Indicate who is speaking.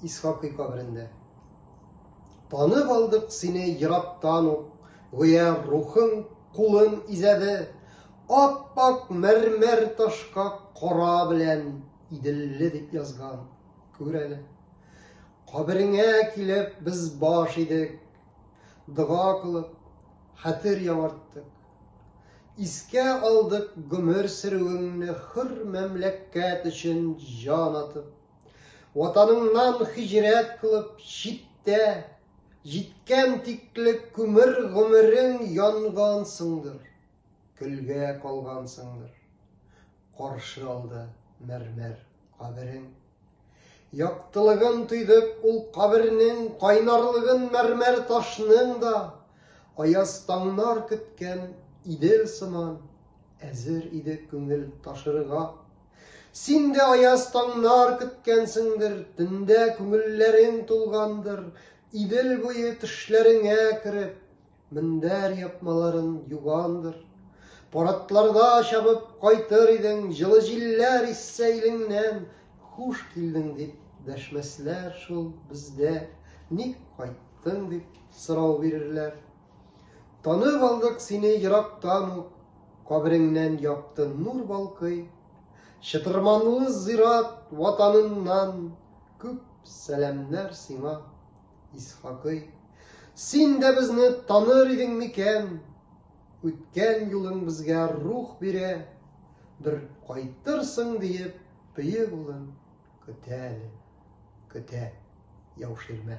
Speaker 1: Исхакый каберендә. Танып алдык сине ерактан ук, гүя рухың кулын изәде, ап-ак мәрмәр ташка кара белән иделле дип язган. Күр әле. Кабереңә килеп без баш идек, дога кылып, хәтер яңарттык. Искә алдык гомер сөрүеңне хөр мәмләкәт өчен җан атып. Ватаныңнан хиҗрәт кылып читтә Җиткән тиклек күмер гомерең янгансыңдыр, Көлгә калгансыңдыр, каршы алды мәрмәр каберең. Яктылыгын тойдык ул кабернең, Кайнарлыгын мәрмәр ташның да, Аяз таңнар көткән Идел сыман, Әзер иде күңел ташырга. Син дә аяз таңнар көткәнсеңдер, Төндә күңелләрең тулгандыр, Идел буе төшләреңә кереп, Мендәр япмаларын югандыр. Паратларда чабып кайтыр идең, Җылы җилләр иссә илеңнән, Хуш килдең дип дәшмәсләр шул бездә, Ник кайттың дип сорау бирерләр. Танып алдык сине ерактан ук, Кабереңнән якты нур балкый. Чытырманлы зират ватаныннан Күп сәламнәр сиңа, Исхакый. Син дә безне таныр идең микән? Үткән юлың безгә рух бирә, Бер кайтырсың диеп, бөек улым, Көтә әле, көтә Яуширмә.